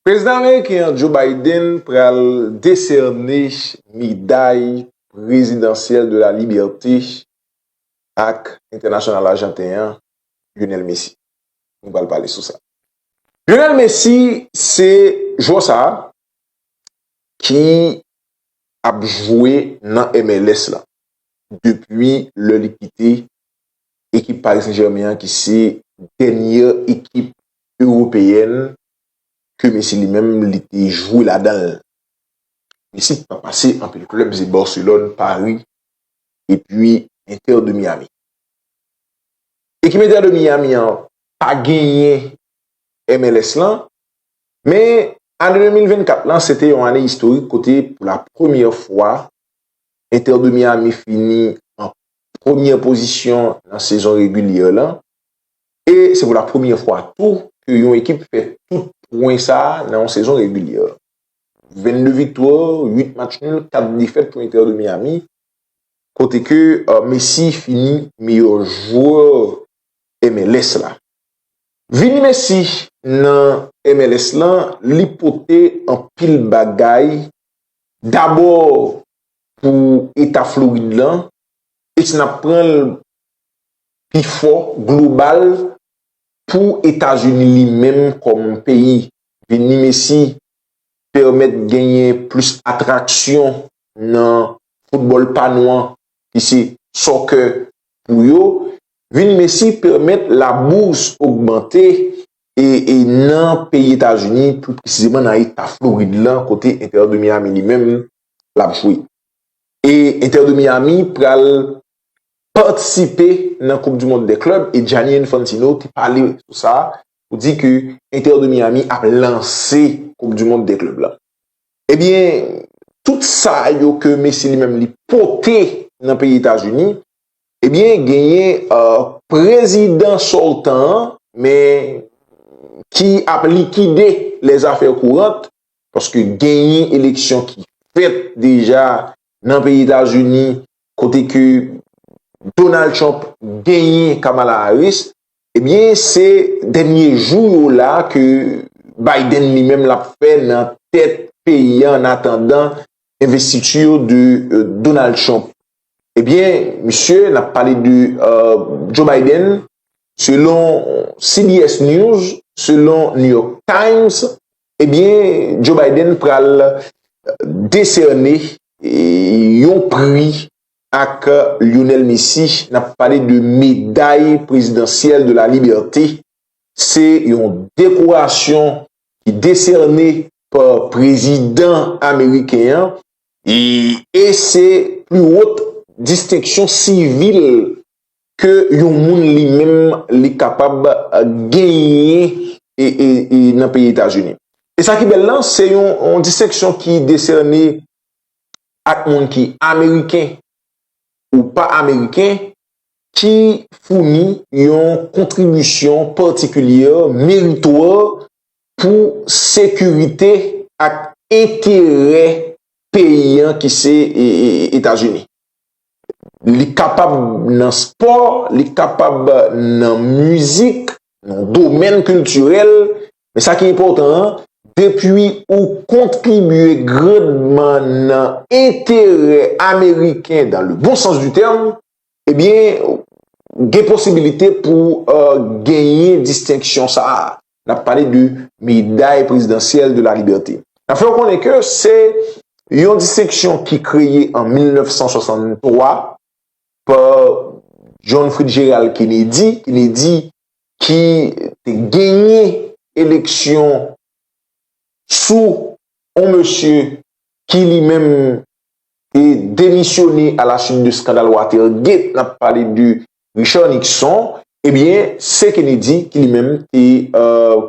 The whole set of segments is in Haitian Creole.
Prezidan ameriken an Joe Biden pral desène meday prezidansyèl de la libète ak entènasyonal ajanten an Lionel Messi. Nou pral pale sou sa. Lionel Messi se jwè sa ki ap jwe nan MLS la depi lè li kite ekip Paris Saint Germain an ki se dènyè ekip Ewopeyèn ke Messi li menm li te jwe ladan l. Messi pa pase anpil klèb se Barcelone, Paris epi Inter de Miami. Ekip Inter de Miami an pa genyen MLS lan men ane 2024 lan se te yon ane istorik kote pou la premyè fwa Inter de Miami fini an premyè pozisyon nan sezon regilyè lan. e se pou la premye fwa tou ke yon ekip fè tout pwen sa nan yon sezon regilyè. 22 viktwa, 8 match nul, 4 defèt pou Inter de Miami, kote ke Messi fini meyè jwè MLS la. Vini Messi nan MLS la, li pote anpil bagay, dabò pou eta Florid la, e si n ap pran l pifò global pou Etazini li menm kòm peyi. Vini Messi pèmèt genyen plis atraksyon nan foutbòl pa nou an ki se soccer pou yo. Vini Messi pèmèt la bourse ogmante e e nan peyi Etazini pli presizeman nan eta Florid lan kote Inter de Miami li menm lap jwe. E Inter de Miami pral patisipe nan koup du mond dè klèb e Gianni Infantino te pale sou sa pou di ke Inter de Miami ap lanse koup du mond dè klèb la. Ebyen tout sa yo ke Messi li menm li pote nan peyi Etazini ebyen genyen prezidan sortan an men ki ap likide les affaires courantes paske genyen eleksyon ki fèt deja nan peyi Etazini kote ke Donald Trump genyen Kamala Harris, ebyen se dènye jou yo la ke Biden li menm lap fè nan tèt peyi an an atandan envestiti yo de Donald Trump. Ebyen misye nap pale de Joe Biden selon CBS News, selon New York Times, Ebyen Joe Biden pral desène yon pri ak Lionel Messi, nap pale de meday prezidansyèl de la libète, se yon dekorasyon ki desène pa prezidan ameriken an e se pli wot distenksyon sivil ke yon moun li menm li kapab genyen nan peyi Etazini. E sa ki bèl la, se yon distenksyon ki desène ak moun ki ameriken ou pa ameriken ki founi yon kontribisyon patikilye meritwa pou sekirite ak enterè peyi an ki se Etazini. li kapab nan spò, li kapab nan mizik, nan domèn kiltirèl, men sa ki enpòtan an, depi ou kontribye grandman nan enterè ameriken dan le bon sans du tèm, ebyen gen posibilite pou genyen distenksyon sa a. N ap pale de meday prezidansyèl de la libète. N ap fè w konnen ke se yon distenksyon ki kreye an 1963 pa John Fritgerald Kennedy, Kennedy ki te genyen eleksyon sou yon mesye ki li menm te demisyone a la suite de skandal Watergate, n ap pale de Richard Nixon, ebyen se Kennedy ki li menm te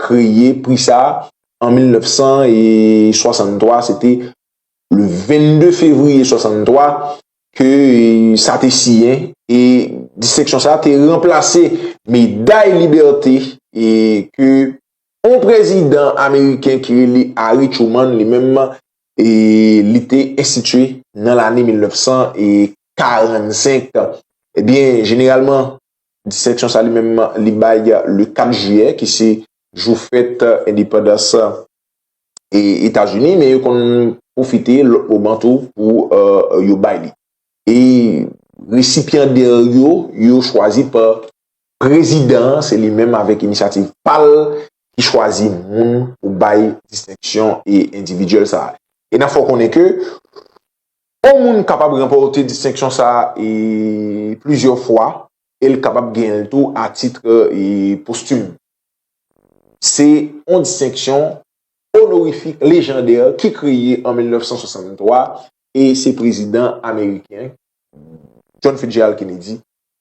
kreye pri sa a an 1963, se te le 22 fevriye 1963 ke sa te siyen e distenksyon sa a te ranplase meday libète ke yon prezidan ameriken ki rele Harry Truman li menm li te enstitye nan lane 1945. Ebyen, jeneralman, distenksyon sa li menm li bay le 4 jiyè ki se jou fèt endepandans Etazini, men yo konn pwofite lòt moman tou pou yo bay li. E resipyandè yo, yo chwazi pa Prezidan an se li menm avèk inisyativ pa l ki chwazi moun pou bay distenksyon endividyèl sa a. E n ap fè w konnen ke yon moun kapab ranpòte distenksyon sa a plizyè fwa e l kapab genyen l tou a titre postim. Se yon distenksyon onorifik lejandè ki kreye an 1963 e se prezidan ameriken John Fitzgerald Kennedy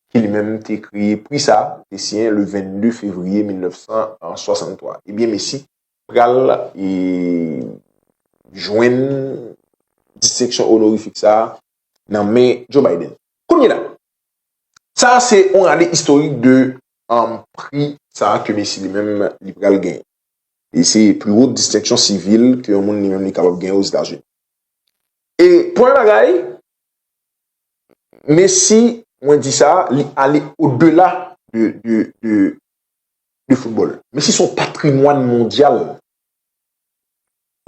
ki li menm te kreye pri sa, te siyen le 22 fevriye 1963. Ebyen Messi pral jwenn distenksyon onorifik sa nan men Joe Biden. Kounyela, sa se yon rale istorik de pri sa ke Messi li menm li pral genyen. E se pli wo distenksyon sivil ke yon moun li menm li kapab genyen Ozetazini. E premye bagay, Men si mwen di sa, li ale odela de foutbòl. Men si son patrimwàn mondyal.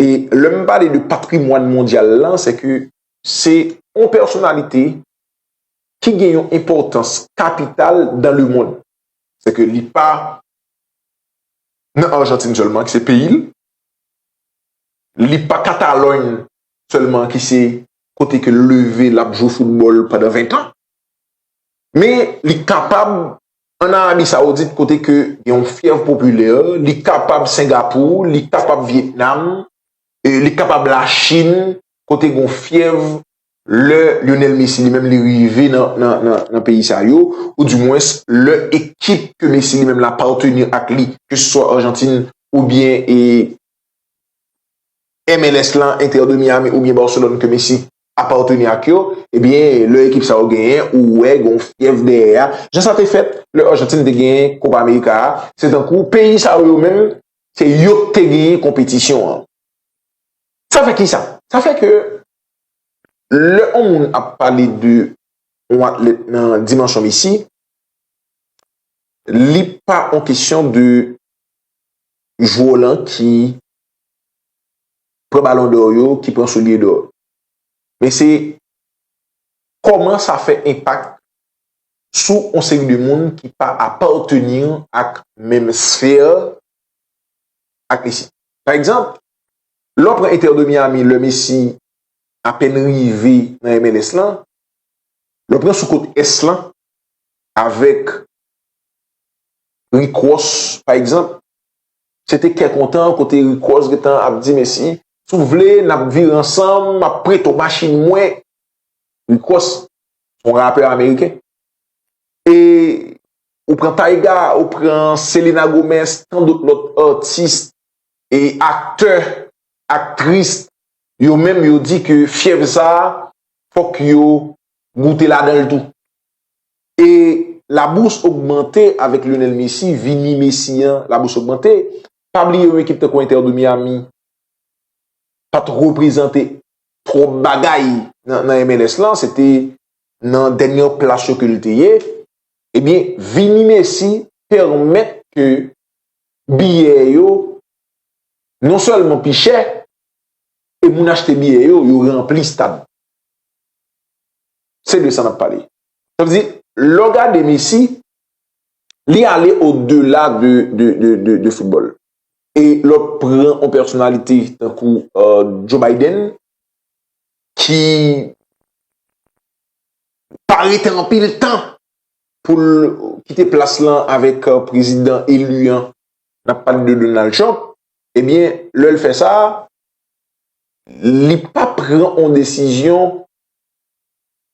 E lè m pale de patrimwàn mondyal lan, se ke se yon pèsonalite ki gen yon enpòtans kapital dan le mond. Se ke li pa nan Arjantin sèlman ki se peyi l, li pa Katalòyn sèlman ki se kote ke l leve l ap jwe foutbòl pandan 20 tan, men li kapab an Arabi Saoudit kote ke gen yon fyèv popilè, li kapab Sengapou, li kapab Vyetnam, li kapab Lachin kote gen yon fyèv lè Lyonel Messi li menm li rive nan peyi sa yo, ou di mwens lè ekip ke Messi li menm l apateni ak li, ke se swa Arjantin oubyen e. MLS lan, Inter de Miami oubyen Barcelone ke Messi apateni ak yo, ebyen lè ekip sa yo genyen ou wè gen yon fyèv dèyè a, jan sa te fèt lè Argentine te genyen Copa America a, se tankou peyi sa yo yo menm se yo k te genyen konpetisyon an. Sa fè kisa? Sa fè ke lè yon moun ap pale de yon atlèt nan dimansyon Messi, li pa yon kesyon de jwè w lan ki pran balon dò yo, ki pran soulye dò. Men se kòman sa fè enpak sou yon seri de moun ki pa apateni ak menm sfè ak Messi. Pa egzanp, lè w pran Inter de Miami lè Messi apèn rive nan MLS lan, lè w pran sou kot Ès lan avèk Rick Ross pa egzanp, Se te kè kontan kote Rikòs gentan ap di Mesi. Si w vle, n ap vire ansanm, m ap prete w machin mwen. Rikòs se yon rapè ameriken. E ou pran Tyga, ou pran Selena Gomez, tan dout lòt atis e aktè, aktris, yo menm yo di ke fyèv sa a fòk yo goute ladan l tou. E la bourse augmente avèk Lionel Messi vini Messi an la bourse augmente pa bliye yon ekip tankou Inter de Miami pat reprezante twòp bagay nan MLS lan se te nan dènyè plas yo ke l te ye ebyen vini Messi pèmèt ke biyè yo non sèlman pi chè e moun achte biyè yo yo ranpli stad se de sa n ap pale. Sa vle di, lè w gade Messi, li ale o dela de foutbòl. E lè w pran yon pèsonalite tankou Joe Biden, ki pa rete anpil tan pou l kite plas lan avèk prezidan eli an, n ap pale de Donald Trump, ebyen, lè l fè sa, li pa pran yon desizyon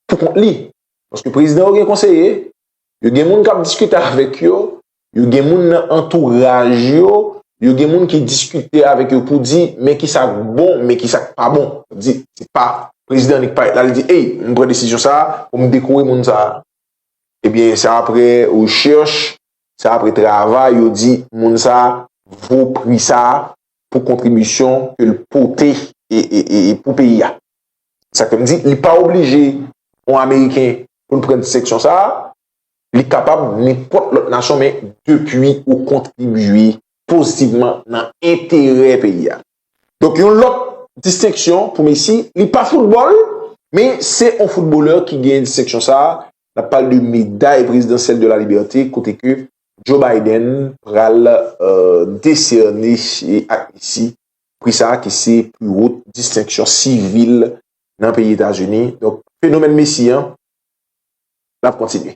pou kont li. Paske prezidan yo gen konseye, yo gen moun k ap diskite avèk yo, yo gen moun nan antouraj yo, yo gen moun ki diskite avèk yo pou di men ki sa k bon, men ki sa k pa bon. Sa vle di, se pa prezidan li k parèt la li di ey, m pran desizyon sa a pou m dekore moun sa a. Ebyen se apre rechèch, se apre travay yo di moun sa a vo pri sa a pou kontribisyon ke l pote pou peyi a. Se sa k fè m di li pa oblije yon ameriken pou l pran distenksyon sa a, li kapab nenpòt lòt nasyon men depi ou kontribye pozitivman nan enterè peyi a. Donk yon lòt distenksyon pou Messi, li pa foutbòl men se yon foutbolè ki genyen distenksyon sa a, n ap pale de meday prezidansyèl de la libète kote ke Joe Biden pral desène ak Messi Pri sa ki se pli wot distenksyon sivil nan peyi Etazini. Donk fenomèn Messi an l ap kontinye.